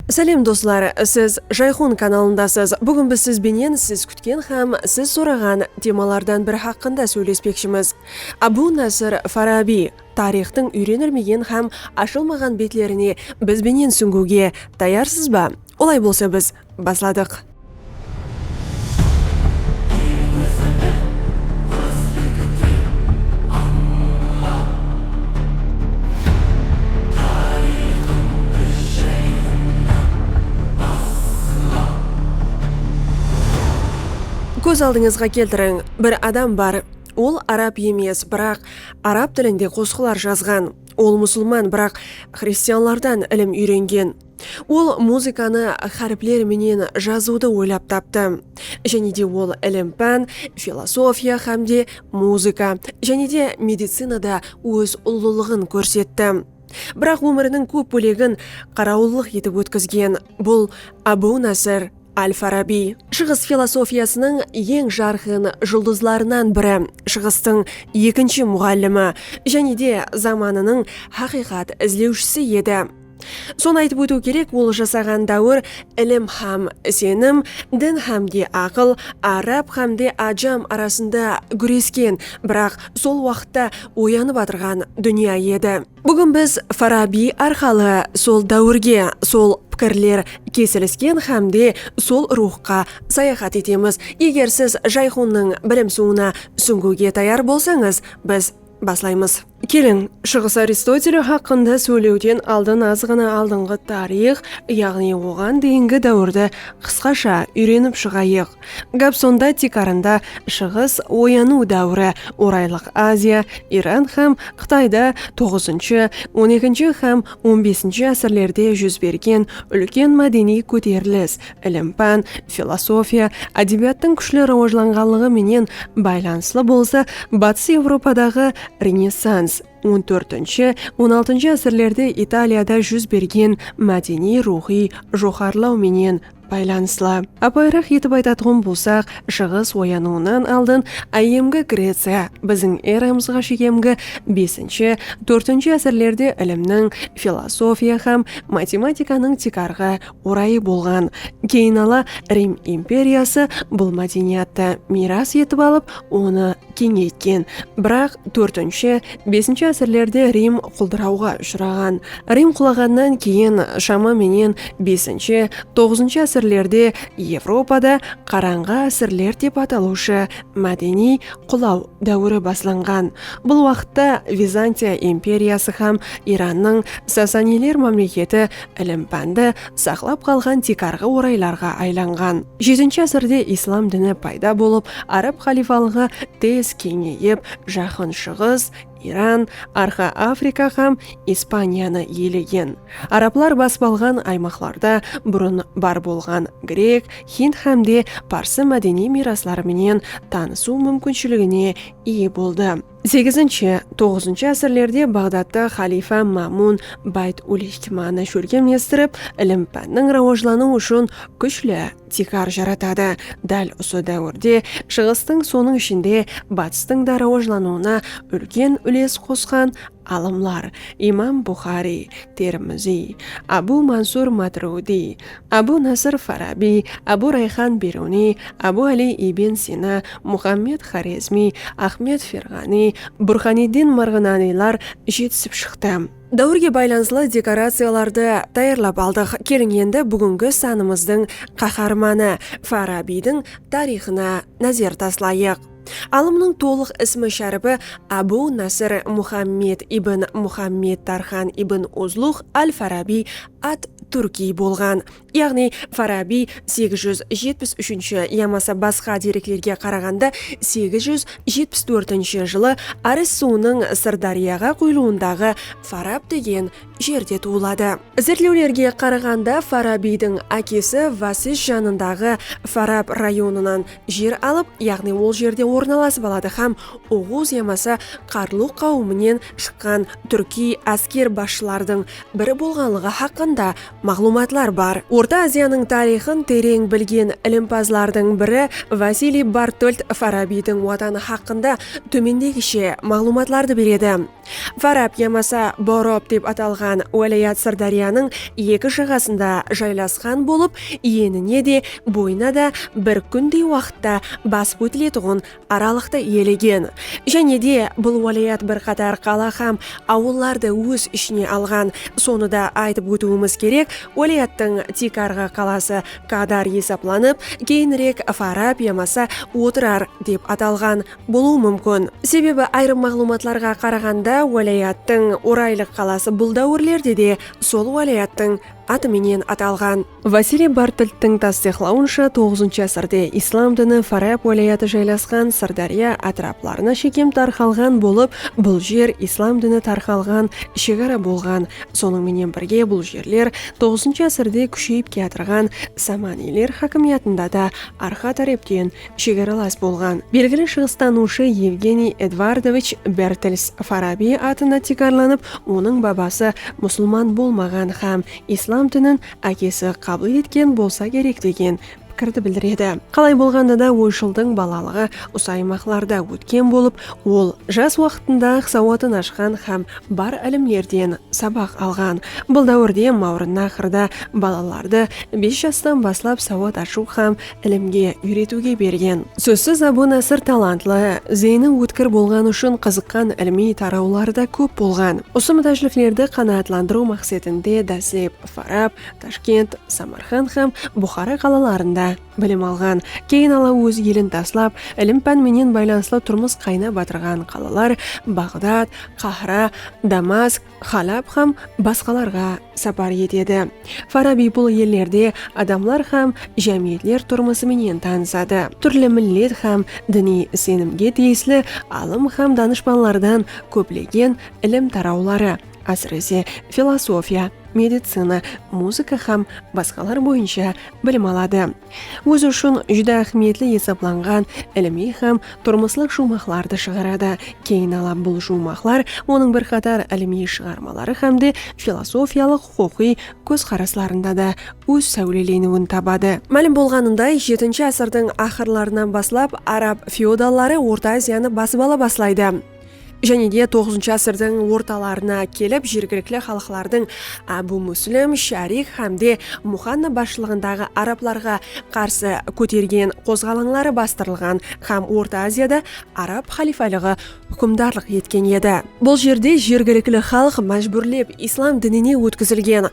Sálem doslar, siz Jayxun kanalındasız. Búgin biz siz benen siz kútken hám siz soraǵan temalardan biri haqqında sóylespekshimiz. Abu Nasr Farabiy tariyxtıń úyrenilmegen hám ashılmaǵan betlerine biz benen súńgiwge tayarsız ba? Olay bolsa biz basladıq. Kóz aldıńızǵa keltiriń, bir adam bar, ol arab emes, biraq arab tilinde qosıqlar jazǵan. Ol musılman, biraq xristianlardan ilim úyrengen. Ol muzıkanı háripler menen jazıwdı oylap taptı. Jáne de ol ilim-pán, filosofiya hám de muzıka, jáne de medicinada óz ullılıǵın kórsetti. Biraq ómiriniń kóp bólegin qarawıllıq etip ótkizgen bul Ábu Násir al-Farabiy. Shıǵıs filosofiyasınıń eń jarqın juldızlarınan biri, Shıǵıstıń ekinshi muǵallimi, jáne de zamanınıń haqıyqat izlewshisi edi. Sonı aytıp ótiw kerek, ol jasaǵan dáwir ilim hám isenim, din hámde aqıl, árab hámde ájam arasında gúresken, biraq sol waqıtta oyanıp atırǵan dúnya edi. Búgin biz Farabiy arqalı sol dáwirge, sol pikirler kesilisken hámde sol ruwxqa sayaxat etemiz. Eger siz Jayxunnıń bilim suwına súńgiwge tayar bolsańız, biz. Baslaymız. Keliń, Shıǵıs Aristoteli haqqında sóylewden aldın azǵana aldınǵı tariyx, yaǵnıy oǵan deyingi dáwirdi qısqasha úyrenip shıǵayıq. Gáp sonda tiykarında Shıǵıs oyanıw dáwiri, Oraylıq Aziya, Iran hám Qıtayda toǵızınshı, on ekinshi hám on besinshi ásirlerde júz bergen úlken mádeniy kóterilis, ilim-pán, filosofiya, ádebiyattıń kúshli rawajlanǵanlıǵı menen baylanıslı bolsa, Batıs Evropadaǵı Renessans, on tórtinshi, on altınshı ásirlerde Italiyada júz bergen mádeniy-ruwxıy joqarılaw menen baylanıslı. Apayıraq etip aytatuǵın bolsaq, Shıǵıs oyanıwınan aldın áyyemgi Greciya, biziń eramızǵa shekemgi besinshi, tórtinshi ásirlerde ilimniń, filosofiya hám matematikanıń tiykarǵı orayı bolǵan. Keyin ala Rim imperiyası bul mádeniyattı miyras etip alıp, onı keńeytken. Biraq tórtinshi, besinshi ásirlerde Rim quldırawǵa ushıraǵan. Rim qulaǵannan keyin shama menen besinshi, toǵızınshı ásirlerde Evropada Qarańǵı ásirler dep atalıwshı mádeniy qulaw dáwiri baslanǵan. Bul waqıtta Vizantiya imperiyası hám Irannıń Sasaniyler mámleketi Ilim-pándi saqlap qalǵan tiykarǵı oraylarǵa aylanǵan. Jetinshi ásirde islam dini payda bolıp, arab xalifalıǵı tez keńeyip, Jaqın Shıǵıs, Iran, Arqa Afrika hám Ispaniyanı iyelegen. Arablar basıp alǵan aymaqlarda burın bar bolǵan grek, hind hám de parsı mádeniy miyrasları menen tanısıw múmkinshiligine iye boldı. Segizinshi, toǵızınshı ásirlerde Baǵdatta xaliyfa Mamun Bayt ul-Ixtimanı shólkem estirip, ilim-pánniń rawajlanıwı ushın kúshli tiykar jaratadı. Dál usı dáwirde Shıǵıstıń, sonıń ishinde, Batıstıń da rawajlanıwına úlken úles qosqan alımlar Imam Buxariy, Termiziy, Abu Mansur Matrwdiy, Abu Nasr Farabiy, Abu Rayxan Beruniy, Abu Ali Ibn Sina, Muxammed Xorezmiy, Axmed Ferǵaniy, Burxaniddin Marǵananiylar jetisip shıqtı. Dáwirge baylanıslı dekoraciyalardı tayarlap aldıq. Keliń endi búgingi sanımızdıń qaharmanı Farabiydiń tariyxına názer taslayıq. Alımnıń tolıq ismi-sháripi Abu Nasr Muxammed ibn Muxammed Tarxan ibn Uzluǵ al-Farabiy at-Túrkiy bolǵan. Yaǵnıy, Farabiy segiz júz jetpis úshinshi yamasa basqa dereklerge qaraǵanda segiz júz jetpis tórtinshi jılı Aris suwınıń Sırdáryaǵa quyılıwındaǵı Farab degen jerde tuwıladı. Izertlewlerge qaraǵanda Farabiydiń ákesi Vasis janındaǵı Farab rayonınan jer alıp, yaǵnıy ol jerde ornalasıp aladı hám Oǵuz yamasa Qarlu qáwiminen shıqqan túrkiy ásker basshılardıń biri bolǵanlıǵı haqqında maǵlıwmatlar bar. Orta Aziyanıń tariyxın tereń bilgen ilimpazlardıń biri Vasiliy Bartolt Farabiydiń watanı haqqında tómendegishe maǵlıwmatlardı beredi. Farab yamasa Borob dep atalǵan wálayat Sırdáryanıń eki jaǵasında jaylasqan bolıp, enine de, boyına da bir kúndey waqıtta basıp ótiletuǵın aralıqtı iyelegen. Jáne de, bul wálayat bir qatar qala hám awıllardı óz ishine alǵan. Sonı da aytıp ótiwimiz kerek, wálayattıń tiykarǵı qalası Kadar esaplanıp, keyinirek Farab yamasa Otırar dep atalǵan. bolıwı múmkin. Sebebi ayırım maǵlıwmatlarǵa qaraǵanda wálayattıń Oraylıq qalası bul dáwirlerde de sol wálayattıń atı menen atalǵan. Vasiliy Bartlttıń tastıyıqlawınsha toǵızıncı ásirde islam dini Farab wálayatı jaylasqan Sırdárya átiraplarına shekem tarqalǵan bolıp, bul jer islam dini tarqalǵan shegara bolǵan. Sonıń menen birge bul jerler toǵızıncı ásirde kúsheyip kiyatırǵan Samaniyler hákimiyatında da arqa tárepten shegaralas bolǵan belgili shıǵıstanıwshı Evgeniy Edvardovich Bertels Farabiy atına tiykarlanıp, onıń babası musılman bolmaǵan hám islam dinin ákesi qabıl etken bolsa kerek degen pikirdi bildiredi. Qalay bolǵanda da, oyshıldıń balalıǵı usı aymaqlarda ótken bolıp, ol jas waqtında-aq sawatın ashqan hám bar ilimlerden sabaq alǵan. Bul dáwirde Mawrınnaxrda balalardı bes jastan baslap sawat ashıw hám ilimge, úyretiwge bergen. Sózsiz Abu Nasr talantlı, zeyni ótkir bolǵanı ushın qızıqqan ilimiy tarawları da kóp bolǵan. Usı mútájliklerdi qanaatlandırıw maqsetinde dáslep Farab, Tashkent, Samarqand hám Buxara qalalarında bilim alǵan, keyin ala óz elin taslap, ilim-pán menen baylanıslı turmıs qaynap atırǵan qalalar Baǵdad, Qahra, Damask, Xalab hám basqalarǵa sapar etedi. Farabiy bul ellerde adamlar hám jámiyetler turmısı menen tanısadı. Túrli millet hám diniy isenimge tiyisli alım hám danıshpanlardan kóplegen ilim tarawları, ásirese, filosofiya, medicina, muzıka hám basqalar boyınsha bilim aladı. Ózi ushın júdá áhmiyetli esaplanǵan ilimiy hám turmıslıq juwmaqlardı shıǵaradı. Keyin ala bul juwmaqlar onıń bir qatar ilimiy shıǵarmaları hámde filosofiyalıq-huqıqıy kózqaraslarında da óz sáwleleniwin tabadı. Málim bolǵanınday, jetinshi ásirdiń aqırlarınan baslap arab feodalları Orta Aziyanı basıp ala baslaydı. Jáne de toǵızınshı ásirdiń ortalarına kelip jergilikli xalıqlardıń Ábu Múslim, Sharik hám de Muxanna basshılıǵındaǵı arablarǵa qarsı kótergen qozǵalańları bastırılǵan hám Orta Aziyada arab xalifaliǵı húkimdarlıq etken edi. Bul jerde jergilikli xalıq májbúrlep islam dinine ótkizilgen,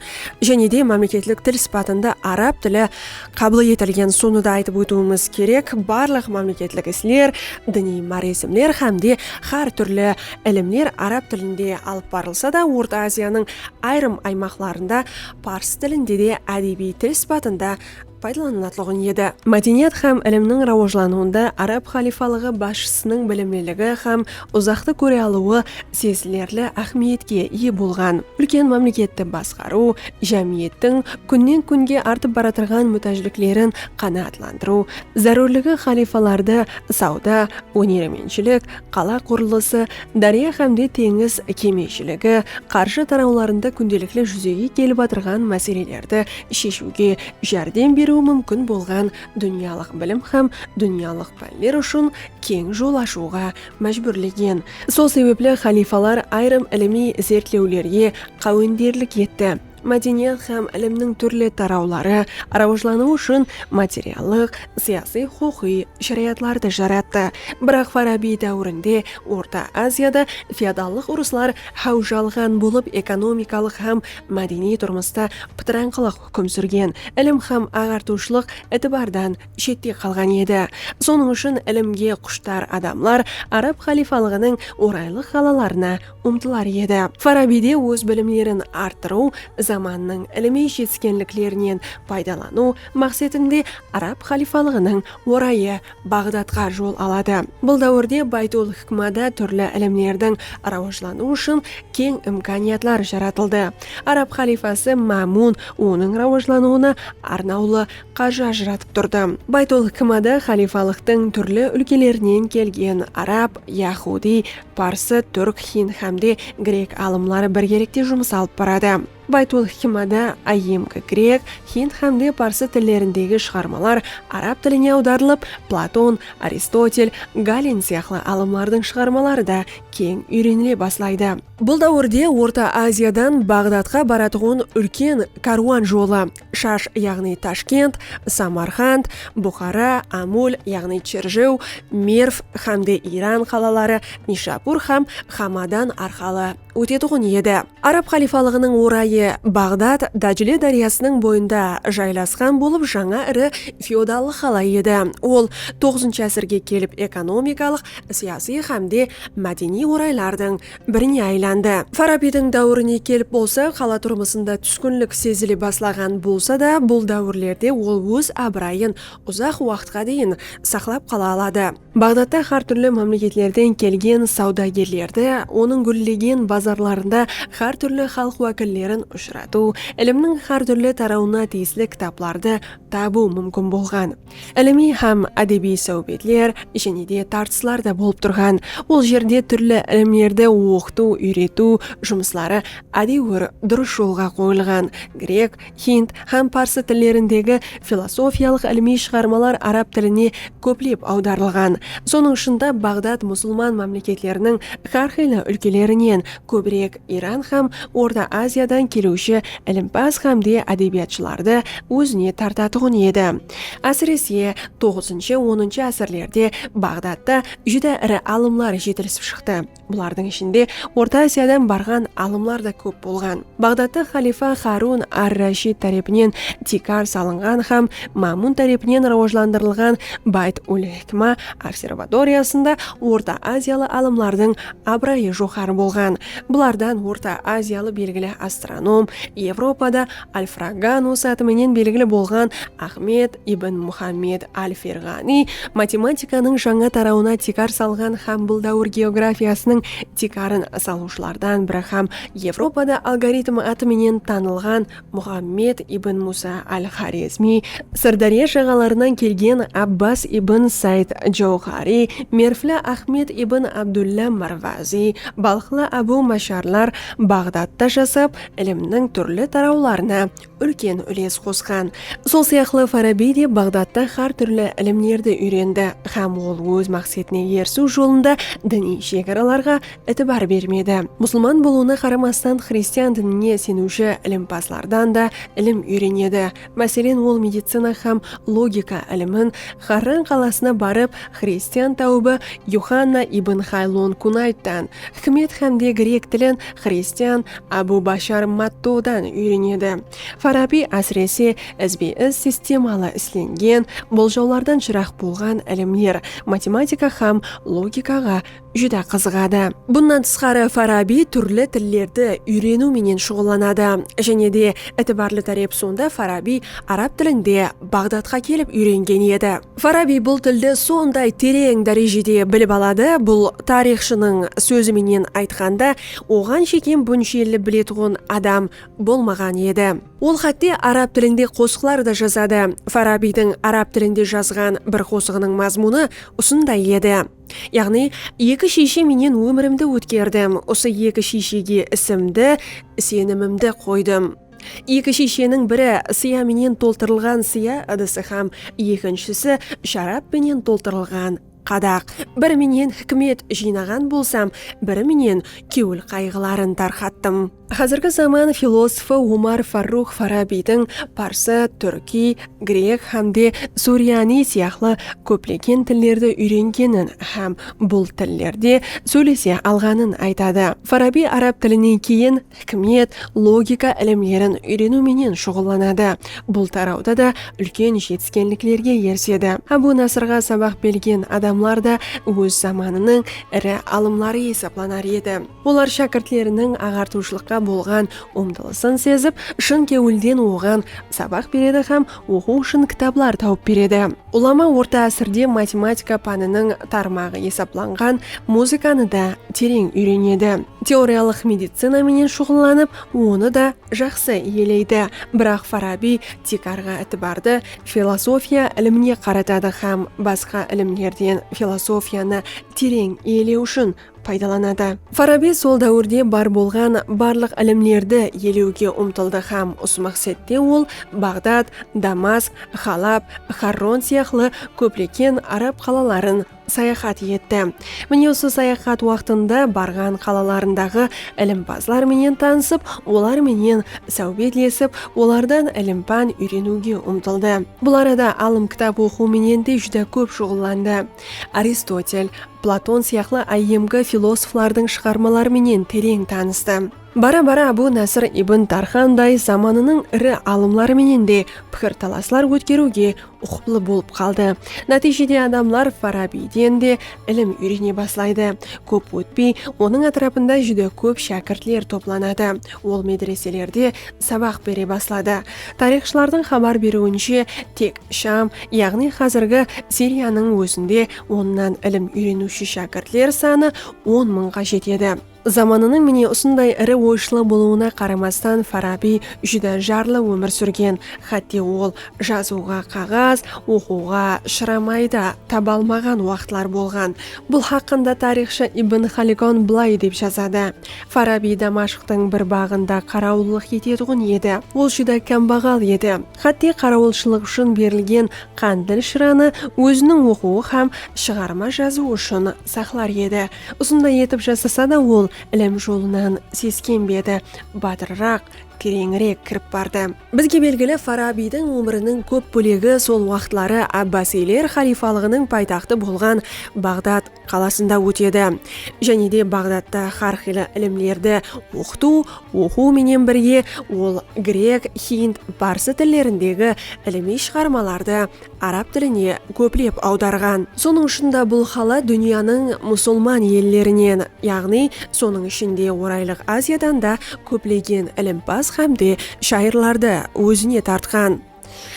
jáne de mámleketlik til sıpatında arab tili qabıl etilgen. Sonı da aytıp ótiwimiz kerek, barlıq mámleketlik isler, diniy máresimler hám de hár túrli ilimler arab tilinde alıp barılsa da, Orta Aziyanıń ayırım aymaqlarında pars tilinde de ádebiy til sıpatında paydalanılatuǵın edi. Mádeniyat hám ilimniń rawajlanıwında arab xalifalıǵı basshısınıń bilimliligi hám uzaqtı kóre alıwı sezilerli áhmiyetke iye bolǵan úlken mámleketti basqarıw, jámiyettiń kúnnen-kúnge artıp baratırǵan mútájliklerin qanaatlandırıw zárúrligi xalifalardı sawda, ónerementshilik, qala qurılısı, dárya hámde teńiz kemeshiligi, qarjı tarawlarında kúndelikli júzege kelip atırǵan máselelerdi sheshiwge járdem beriwi múmkin bolǵan dúnyalıq bilim hám dúnyalıq pánler ushın keń jol ashıwǵa májbúrlegen. Sol sebepli xalifalar ayırım ilimiy izertlewlerge qáwenderlik etti. Mádeniyat hám ilimniń túrli tarawları rawajlanıwı ushın materiallıq, siyasıy-huqıqıy sharayatlardı jarattı. Biraq Farabiy dáwirinde Orta Aziyada feodallıq urıslar háwj alǵan bolıp, ekonomikalıq hám mádeniy turmısta pıtırańqılıq húkim súrgen, ilim hám aǵartıwshılıq itibardan shette qalǵan edi. Sonıń ushın ilimge qushtar adamlar arab xalifalıǵınıń oraylıq qalalarına umtılar edi. Farabiyde óz bilimlerin arttırıw, zamannıń ilimiy jetiskenliklerinen paydalanıw maqsetinde arab xalifalıǵınıń orayı Baǵdadqa jol aladı. Bul dáwirde Baytul-hikmada túrli ilimlerdiń rawajlanıwı ushın keń imkaniyatlar jaratıldı. Arab xalifası Mámun onıń rawajlanıwına arnawlı Qarjı ajıratıp turdı. Baytul hikmada xalifalıqtıń túrli úlkelerinen kelgen arab, yahudiy, parsı, túrk, hind hám de grek alımları birgelikte jumıs alıp baradı. Baytul hikmada áyyemgi grek, hind hám de parsı tillerindegi shıǵarmalar arab tiline awdarılıp, Platon, Aristotel, Galen sıyaqlı alımlardıń shıǵarmaları da keń úyrenile baslaydı. Bul dáwirde Orta Aziyadan Baǵdadqa baratuǵın úlken kárwan jolı, Shash yaǵnıy Tashkent, Samarqand, Buxara, Amul yaǵnıy Cherjew, Merv hám de Iran qalaları Nishapur hám Hamadan arqalı ótetuǵın edi. Arab xalifalıǵınıń orayı Baǵdad Dájle dáryasınıń boyında jaylasqan bolıp jańa iri feodallıq qala edi. Ol toǵızınshı ásirge kelip ekonomikalıq, siyasiy hám de mádeniy oraylardıń birine aylandı. Farabiydiń dáwirine kelip bolsa, qala turmısında túskinlik sezile baslaǵan bolsa da, bul dáwirlerde ol óz abırayın uzaq waqıtqa deyin saqlap qala aladı. Baǵdadta hár túrli mámleketlerden kelgen sawdagerlerdi, onıń gúllegen bazarlarında hár túrli xalıq wákillerin ushıratıw, ilimniń hár túrli tarawına tiyisli kitaplardı tabıw múmkin bolǵan. Ilimiy hám ádebiy sáwbetler jáne de tartıslar da bolıp turǵan. Ol jerde túrli ilimlerdi oqıtıw, úyretiw jumısları ádewir durıs jolǵa qoyılǵan. Grek, hind hám parsı tillerindegi filosofiyalıq ilimiy shıǵarmalar arab tiline kóplep awdarılǵan. Sonıń ushın da Baǵdad musılman mámleketleriniń hár qıylı úlkelerinen kóbirek Iran hám Orta Aziyadan keliwshi ilimpaz hám de ádebiyatshılardı ózine tartatuǵın edi. Ásirese, toǵızınshı, onınshı ásirlerde Baǵdadta júdá iri alımlar jetilisip shıqtı. Bulardıń ishinde Orta Aziyadan barǵan alımlar da kóp bolǵan. Baǵdadta xalifa Xarun ar-Rashid tárepinen tiykar salınǵan hám Mámun tárepinen rawajlandırılǵan Bayt-ul-Hikma observatoriyasında Orta Aziyalı alımlardıń Abırayı joqarı bolǵan bulardan Orta Aziyalı belgili astronom, Evropada Alfraganus atı menen belgili bolǵan Axmed ibn Muxammed al-Ferǵaniy matematikanıń jańa tarawına tiykar salǵan hám bul dáwir geografiyasınıń tiykarın salıwshılardan biri hám Evropada algoritm atı menen tanılǵan Muxammed ibn Musa al-Xorezmiy, Sırdárya jaǵalarınan kelgen Abbas ibn Sayd Jawxariy, mervli Axmed ibn Abdulla Marvaziy, balxlı Abu Masharlar Baǵdadta jasap, ilimniń túrli tarawlarına úlken úles qosqan. Sol sıyaqlı Farabiy de Baǵdadta xár túrli ilimlerdi úyrendi hám ol óz maqsetine erisiw jolında diniy shegaralarǵa itibar bermedi. Musılman bolıwına qaramastan xristian dinine seniwshi ilimpazlardan da ilim úyrenedi. Máselen, ol medicina hám logika ilimin Xarran qalasına barıp, xristian táwıbı Yuxanna ibn Xaylon Kunayttan, hikmet hám de grek tilin xristian Abu Bashar Mattodan úyrenedi. Farabiy, ásirese, izbe-iz sistemalı islengen boljawlardan jıraq bolǵan ilimler, matematika hám logikaǵa júdá qızıǵadı. Bunnan tısqarı, Farabiy túrli tillerdi úyreniw menen shuǵıllanadı. Jáne de, itibarlı tárep sonda Farabiy arab tilinde Baǵdadqa kelip úyrengen edi. Farabiy bul tildi sonday tereń dárejede bilip aladı, bul tariyxshınıń sózi menen aytqanda, oǵan shekem bunshelli biletuǵın adam bolmaǵan edi. Ol xátte arab tilinde qosıqlar da jazadı. Farabiydiń arab tilinde jazǵan bir qosıǵınıń mazmunı usınday edi. Yaǵnıy, eki shiyshe menen ómirimdi ótkerdim, usı eki shiyshege isimdi, isenimimdi qoydım. Eki shiysheniń biri sıya menen toltırılǵan sıya ıdısı hám ekinshisi sharap penen toltırılǵan qadaq. Biri menen hikmet jıynaǵan bolsam, biri menen kewil qayǵıların tarqattım. Házirgi zaman filosofı Omar Farrux Farabiydiń parsı, túrkiy, grek hám de suriyaniy sıyaqlı kóplegen tillerdi úyrengenin hám bul tillerde sóylese alǵanın aytadı. Farabiy arab tilinen keyin hikmet, logika ilimlerin úyreniw menen shuǵıllanadı. Bul tarawda da úlken jetiskenliklerge erisedi. Ábu Nasrǵa sabaq belgen adamlar da óz zamanınıń iri alımları esaplanar edi. Olar shákirtleriniń aǵartıwshılıqqa bolǵan umtılısın sezip, shın kewilden oǵan sabaq beredi hám oqıw ushın kitaplar tawıp beredi. Ulama orta ásirde matematika pániniń tarmaǵı esaplanǵan muzıkanı da tereń úyrenedi. Teoriyalıq medicina menen shuǵıllanıp, onı da jaqsı iyeleydi. Biraq Farabiy tiykarǵı itibardı filosofiya ilimine qaratadı hám basqa ilimlerden filosofiyanı tereń iyelew ushın paydalanadı. Farabi sol dáwirde bar bolǵan barlıq ilimlerdi ielewge umtıldı hám usı maqsette ol Baǵdad, Damask, Halab, Xarron sıyaqlı kópleken arab qalaların sayaxat etti. Mine usı sayaxat waqtında barǵan qalalarındaǵı ilimpazlar menen tanısıp, olar menen sáwbetlesip, olardan ilim-pán úyreniwge umtıldı. Bul arada alım kitap oqıw menen de júdá kóp shuǵıllandı. Aristotel, Platon sıyaqlı áyyemgi filosoflardıń shıǵarmaları menen tereń tanıstı. Bara-bara Abu Nasr ibn Tarxanday zamanınıń iri alımları menen de pikir-talaslar ótkeriwge uqıplı bolıp qaldı. Nátiyjede adamlar Farabiyden de ilim úyrene baslaydı. Kóp ótpey, onıń átirapında júdá kóp shákirtler toplanadı. Ol medreselerde sabaq bere basladı. Tariyxshılardıń xabar beriwinshe, tek Sham, yaǵnıy xázirgi Siriyanıń ózinde onnan ilim úyreniwshi shákirtler sanı on mıńǵa jetedi. Zamanınıń mine usınday iri oyshılı bolıwına qaramastan Farabiy júdá jarlı ómir súrgen, xátte ol jazıwǵa qaǵaz, oqıwǵa shıramay da taba almaǵan waqıtlar bolǵan. Bul haqqında tariyxshı Ibn Xalikon bılay dep jazadı, Farabiy Damashqtıń bir baǵında qarawıllıq etetuǵın edi. Ol júdá kámbaǵal edi. Xátte qarawılshılıq ushın berilgen Qándil shıranı óziniń oqıwı hám shıǵarma jazıwı ushın saqlar edi. Usınday etip jasasa da ol ilim jolınan seskenbedi, batırıraq, tereńirek kirip bardı. Bizge belgili Farabiydiń ómiriniń kóp bólegi sol waqıtları Abbasiyler xaliyfalıǵınıń paytaxtı bolǵan Baǵdad qalasında ótedi. Jáne de Baǵdadta xár qıylı ilimlerdi oqıtıw, oqıw menen birge ol grek, hind, parsı tillerindegi ilimiy shıǵarmalardı arab tiline kóplep awdarǵan. Sonıń ushın da bul xalat dúnyanıń musulman ellerinen, yaǵnıy, sonıń ishinde Oraylıq Aziyadan da kóplegen ilimpaz hám de shayırlardı ózine tartqan.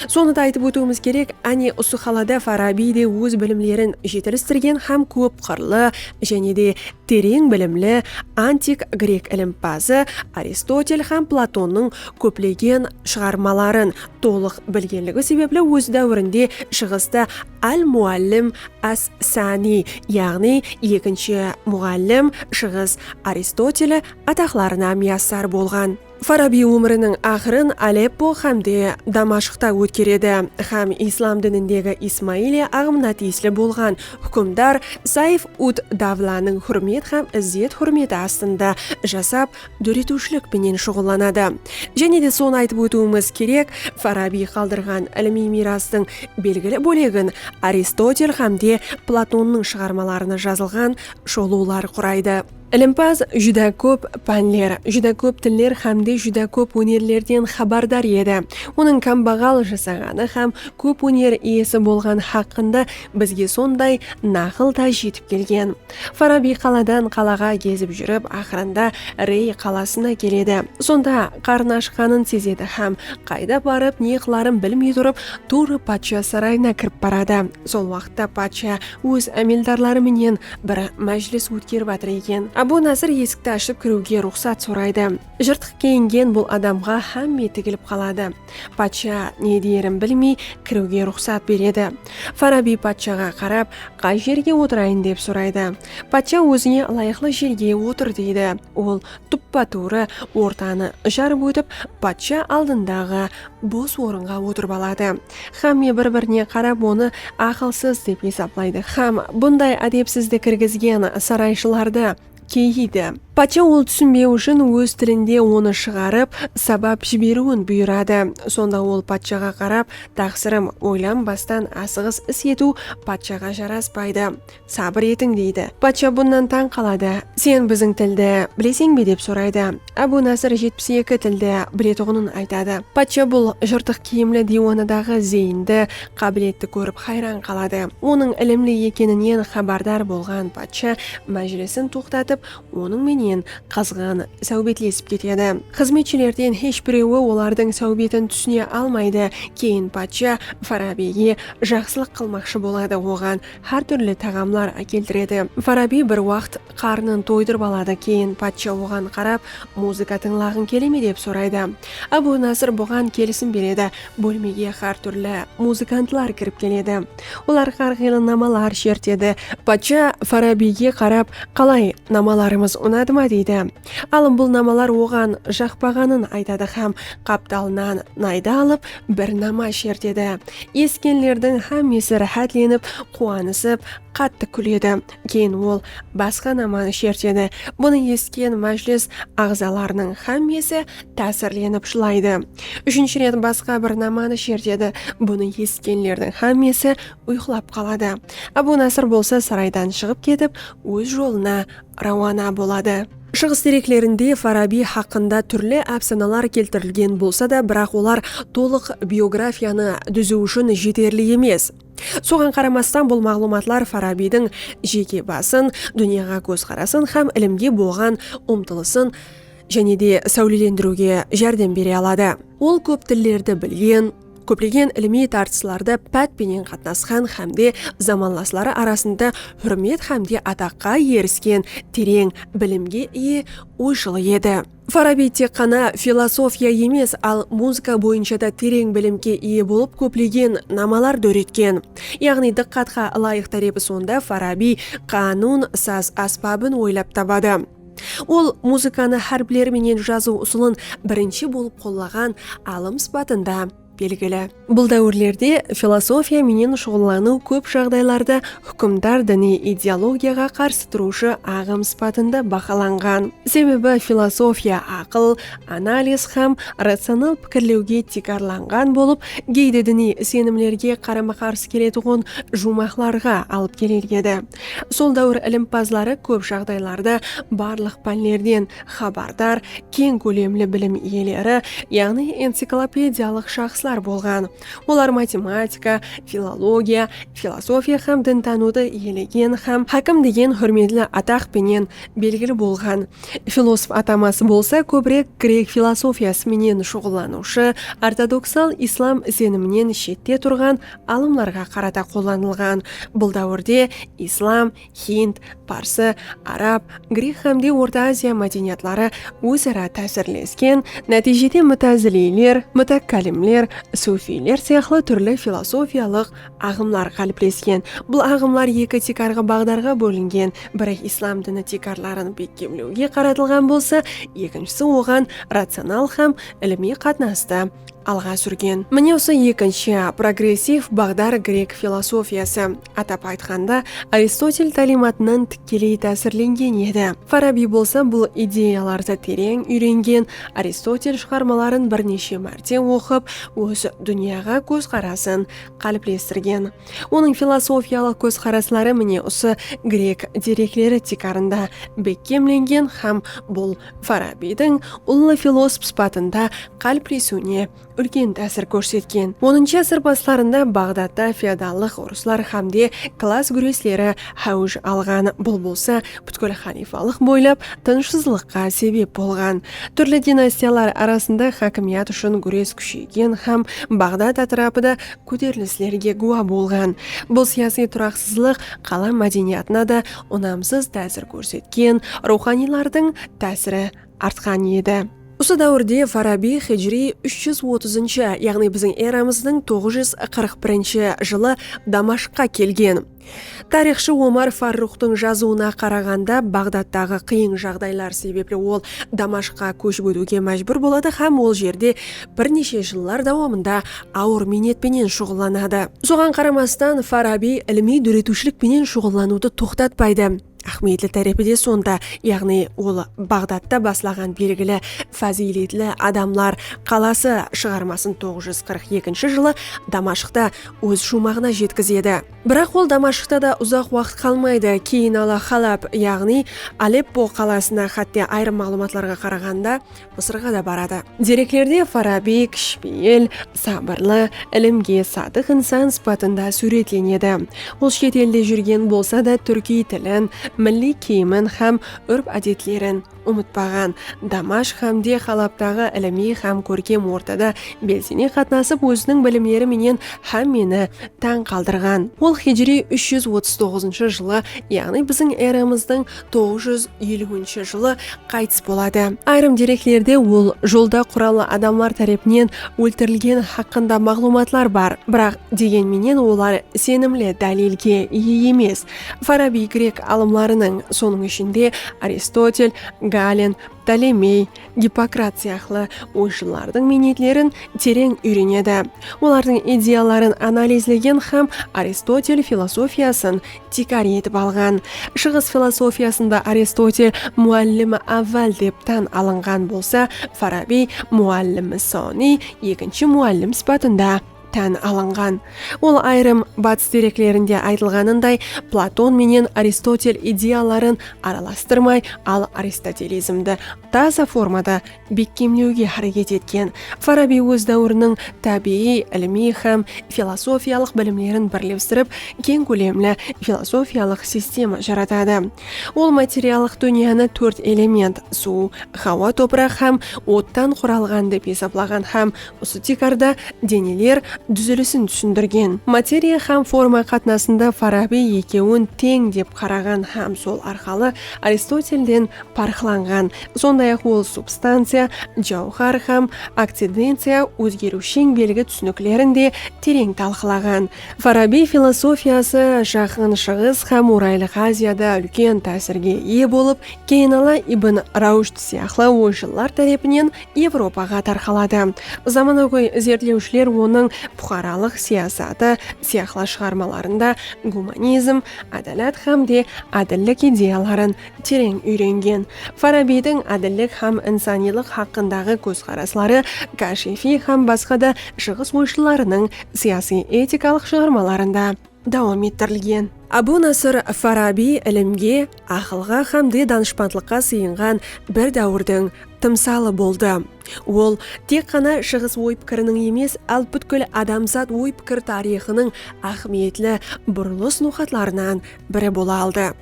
Sonı da aytıp ótiwimiz kerek, áne usı xalada Farabiy de óz bilimlerin jetilistirgen hám kóp qırlı jáne de tereń bilimli antik grek ilimpazı Aristotel hám Platonnıń kóplegen shıǵarmaların tolıq bilgenligi sebepli óz dáwirinde Shıǵısta Al-Muallim as-Sani, yaǵnıy Ekinshi muǵallim, Shıǵıs Aristoteli, ataqlarına miyassar bolǵan. Farabiy ómiriniń aqırın Aleppo hámde Damashqta ótkeredi hám islam dinindegi Ismailiya aǵımına tiyisli bolǵan húkimdar Sayf-ud-Davlanıń húrmet hám izzet-húrmeti astında jasap dóretiwshilik penen shuǵıllanadı. Jáne de sonı aytıp ótiwimiz kerek, Farabiy qaldırǵan ilimiy miyrastıń belgili bólegin Aristotel hám de Platonnıń shıǵarmalarına jazılǵan sholıwlar quraydı. Ilimpaz júdá kóp pánler, júdá kóp tiller hám de júdá kóp ónerlerden xabardar edi. Onıń kámbaǵal jasaǵanı hám kóp óner iyesi bolǵan haqqında bizge sonday naqıl da jetip kelgen. Farabiy qaladan qalaǵa gezip júrip, aqırında Rey qalasına keledi. Sonda qarnı ashqanın sezedi hám qayda barıp ne qıların bilmey turıp, tuwrı patsha sarayına kirip baradı. Sol waqıtta patsha óz ámeldarları menen bir májilis ótkerip atır eken. Abu Nasır esikti ashıp kiriwge ruxsat soraydı. Jırtıq kiyingen bul adamǵa hámme tigilip qaladı. Patsha ne deyerin bilmey kiriwge ruxsat beredi. Farabiy patshaǵa qarap, qay jerge otırayın dep soraydı. Patsha ózine ılayıqlı jerge otır deydi. Ol tuppa-tuwrı ortanı jarıp ótip, patsha aldındaǵı bos orınǵa otırıp aladı. Xámme bir-birine qarap onı aqılsız dep esaplaydı xám bunday ádepsizdi kirgizgen sarayshılardı, keyiydi. Patsha ol túsinbeu ushın óz tilinde onı shıǵarıp, sabap jiberiuin buyıradı. Sonda ol patshaǵa qarap, Taqsırım, oylanbastan asıǵıs is etiu patshaǵa jaraspaydı. Sabır etiń, deydi. Patsha bunnan tań qaladı. Sen biziń tildi bileseń be? dep soraydı. Ábu Nasır jetpis eki tildi biletuǵının aytadı. Patsha bul jırtıq kiyimli diywanadaǵı zeyindi, qábiletti kórip hayran qaladı. Onıń ilimli ekeninen xabardar bolǵan patsha májilisin toqtatıp, onıń menen qızǵın sáwbetlesip ketedi. Xızmetshilerden hesh birewi olardıń sáwbetin túsine almaydı. Keyin patsha Farabiyge jaqsılıq qılmaqshı boladı, oǵan hár túrli taǵamlar ákeltiredi. Farabiy bir waqt. Qarnın toydırıp aladı, keyin patsha oǵan qarap, Muzıka tıńlaǵıń kele me? dep soraydı. Ábu Nasır buǵan kelisim beredi. Bólmege xár túrli muzıkantlar kirip keledi. Olar xár qıylı namalar shertedi. Patsha Farabiyge qarap, Qalay, namalarımız unadı ma? deydi. Alım bul namalar oǵan jaqpaǵanın aytadı hám qaptalınan naydı alıp, bir nama shertedi. Esitkenlerdiń hámmesi ráhátlenip, quwanısıp, qattı kúledi. Keyin ol basqa namanı shertedi. Bunı esitken májilis aǵzalarınıń xámmesi tásirlenip jılaydı. Úshinshi ret basqa bir namanı shertedi. Bunı esitkenlerdiń xámmesi uyqılap qaladı. Ábu Nasr bolsa saraydan shıǵıp ketip, óz jolına rawana boladı. Shıǵıs dereklerinde Farabiy haqqında túrli ápsanalar keltirilgen bolsa da, biraq olar tolıq biografiyanı dúziw ushın jeterli emes. Soǵan qaramastan bul maǵlıwmatlar Farabiydiń jeke basın, dúnyaǵa kózqarasın hám ilimge bolǵan umtılısın jáne de sáwlelendiriwge járdem bere aladı. Ol kóp tillerdi bilgen, kóplegen ilimiy tartıslarda pát penen qatnasqan hám de zamanlasları arasında húrmet hám de ataqqa erisken tereń bilimge iye oyshıl edi. Farabiy tek ǵana filosofiya emes, al muzıka boyınsha da tereń bilimge iye bolıp kóplegen namalar dóretken. Yaǵnıy dıqqatqa ılayıq tárepi sonda Farabiy qánun, saz ásbabın oylap tabadı. Ol muzıkanı hárpler menen jazıw usılın birinshi bolıp qollaǵan alım sıpatında. Belgili. Bul dáwirlerde filosofiya menen shuǵıllanıw kóp jaǵdaylarda húkimdar diniy ideologiyaǵa qarsı turıwshı aǵım sıpatında bahalanǵan. Sebebi filosofiya aqıl, analiz hám ratsional pikirlewge tiykarlanǵan bolıp, geyde diniy isenimlerge qarama-qarsı keletuǵın juwmaqlarǵa alıp keler edi. Sol dáwir ilimpazları kóp jaǵdaylarda barlıq pánlerden, xabardar, keń kólemli bilim iyeleri, yaǵnıy enciklopediyalıq shaxslar bolǵan. Olar matematika, filologiya, filosofiya hám dintanıwdı iyelegen hám hákim degen húrmetli ataq penen belgili bolǵan. Filosof ataması bolsa kóbirek grek filosofiyası menen shuǵıllanıwshı ortodoksal islam iseniminen shette turǵan alımlarǵa qarata qollanılǵan. Bul dáwirde islam, Hind, parsı, arab, grek hám de Orta Aziya mádeniyatları óz-ara tásirlesken, nátiyjede mutaziliyler, mutakkallimler, sufiyler sıyaqlı túrli filosofiyalıq aǵımlar qáliplesken. Bul aǵımlar eki tiykarǵı baǵdarǵa bólingen, biri islam dini tiykarların bekkemlewge qaratılǵan bolsa, ekinshisi oǵan ratsional hám ilimiy qatnastı alǵa súrgen. Mine usı ekinshi, progressiv baǵdar grek filosofiyası. Atap aytqanda, Aristotel táliymatınan tikkeley tásirlengen edi. Farabiy bolsa bul ideyalardı tereń úyrengen, Aristotel shıǵarmaların bir neshe márte oqıp, óz dúnyaǵa kózqarasın qáliplestirgen. Onıń filosofiyalıq kózqarasları mine usı grek derekleri tiykarında bekkemlengen hám bul Farabiydiń ullı filosf sıpatında qáliplesiwine úlken tásir kórsetken. Onıncı ásir baslarında Baǵdatta feodallıq urıslar hámde klass gúresleri háwij alǵan, bul bolsa pútkil xalifalıq boylap tınıshsızlıqqa sebep bolǵan. Túrli dinastiyalar arasında hákimiyat ushın gúres kúsheygen hám Baǵdat átirapı da kóterilislerge gúwa bolǵan. Bul siyasiy turaqsızlıq qala mádeniyatına da unamsız tásir kórsetken, ruwxaniylardıń tásiri artqan edi. Usı dáwirde Farabiy hijriy úsh júz otızınshı, yaǵnıy biziń eramızdıń toǵız júz qırq birinshi, jılı Damashqqa kelgen. Tariyxshı Omar Farruxtıń jazıwına qaraǵanda, Baǵdadtaǵı qıyıń jaǵdaylar sebepli ol Damashqqa kóship ótiwge májbúr boladı hám ol jerde bir neshe jıllar dawamında awır miynet penen shuǵıllanadı. Soǵan qaramastan, Farabiy ilimiy dóretiwshilik penen shuǵıllanıwdı toqtatpaydı. Áhmiyetli tárepi de sonda, yaǵnıy ol Baǵdadtı baslaǵan belgili fázıyletli adamlar qalası shıǵarmasın toǵız júz qırq ekinshi jılı Damashqta óz shuwmaǵına jetkizedi. Biraq ol Damashqta da uzaq waqıt qalmaydı, keyin ala Halab, yaǵnıy Aleppo qalasına, xátte ayırım maǵlıwmatlarǵa qaraǵanda, Mısırǵa da baradı. Dereklerde Farabiy kishipeyil, sabırlı, ilimge sadık insan sıpatında súwretlenedi. Ol shet elde júrgen bolsa da túrkiy tilin, milliy kiyimin hám úrp-ádetlerin umıtpaǵan. Damashq hám de Halabtaǵı ilimiy hám kórkem ortada belsene qatnasıp óziniń bilimleri menen hámmeni tań qaldırǵan. Ol hijriy úsh júz otız toǵızınshı jılı yaǵnıy biziń eramızdıń toǵız júz eliwinshi jılı qaytıs boladı. Ayırım dereklerde ol jolda qurallı adamlar tárepinen óltirilgeni haqqında maǵlıwmatlar bar, biraq degen menen olar isenimli dálilge iye emes. Farabiy grek alımlarınıń, sonıń ishinde, Aristotel, Galen, Ptolemey, Gippokrat sıyaqlı oyshıllardıń miynetlerin tereń úyrenedi, olardıń ideyaların analizlegen hám Aristotel filosofiyasın tiykar etip alǵan. Shıǵıs filosofiyasında Aristotel muallimi avval dep tan alınǵan bolsa, Farabiy muallimi soniy, ekinshi muallim sıpatında, tan alınǵan. Ol ayırım batıs dereklerinde aytılǵanınday Platon menen Aristotel ideyaların aralastırmay, al aristotelizmdi taza formada bekkemlewge háreket etken. Farabiy óz dáwiriniń tábiyiy, ilimiy hám filosofiyalıq bilimlerin birlestirip, keń kólemli filosofiyalıq sistema jaratadı. Ol materiallıq dúnyanı tórt element, suw, hawa, topıraq hám ottan quralǵan dep esaplaǵan hám usı tiykarda deneler dúzilisin túsindirgen. Materiya hám forma qatnasında Farabiy ekewin teń dep qaraǵan hám sol arqalı Aristotelden parıqlanǵan. Sonday-aq, ol substanciya, jawhar hám akcidenciya, ózgeriwsheń belgi túsiniklerin de tereń talqılaǵan. Farabiy filosofiyası Jaqın Shıǵıs hám Oraylıq Aziyada úlken tásirge iye bolıp, Keynala ibn Rushd sıyaqlı oyshıllar tárepinen Evropaǵa tarqaladı. Zamanagóy izertlewshiler onıń puqaralıq siyasatı sıyaqlı shıǵarmalarında gumanizm, ádalat hám de ádillik ideyaların tereń úyrengen Farabiydiń ádillik hám insanıylıq haqqındaǵı kózqarasları, Kashefiy hám basqa da shıǵıs oyshıllarınıń siyasiy-etikalıq shıǵarmalarında dawam ettirilgen. Abu Nasr Farabiy ilimge, aqılǵa hám de danıshpandlıqqa sıyınǵan bir dáwirdiń tımsalı boldı. Ol tek ǵana shıǵıs oy-pikiriniń emes, al pútkil adamzat oy-pikir tariyxınıń áhmiyetli burılıs noqatlarınan biri bola aldı.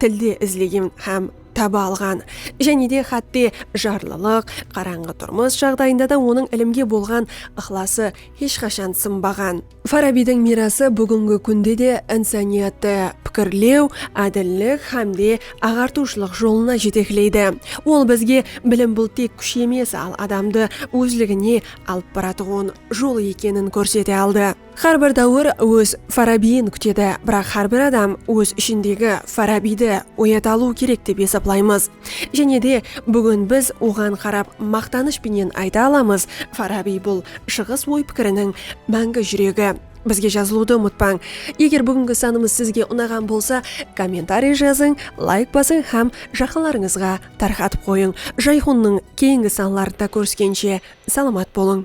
Tilde izlegen hám taba alǵan, jáne de hátte jarlılıq, qarańǵı turmıs jaǵdayında da onıń ilimge bolǵan ıqlası hesh qashan sınbaǵan. Farabiydiń miyrası búgingi kúnde de insaniyattı pikirlew, ádillik hám de aǵartıwshılıq jolına jetekleydi. Ol bizge bilim bul tek kúsh emes, al adamdı ózligine alıp baratuǵın jol ekenin kórsete aldı. Xár bir dáwir óz Farabiyin kútedi, biraq xár bir adam óz ishindegi Farabiydi oyata alıwı kerek dep esaplaymız. Jáne de, búgin biz oǵan qarap maqtanısh penen ayta alamız, Farabiy bul Shıǵıs oy-pikiriniń máńgi júregi. Bizge jazılıwdı umıtpań. Eger búgingi sanımız sizge unaǵan bolsa, kommentariy jazıń, layk basıń hám jaqınlarıńızǵa tarqatıp qoyıń. Jayxunnıń keyingi sanlarında kóriskenshe, salamat bolıń!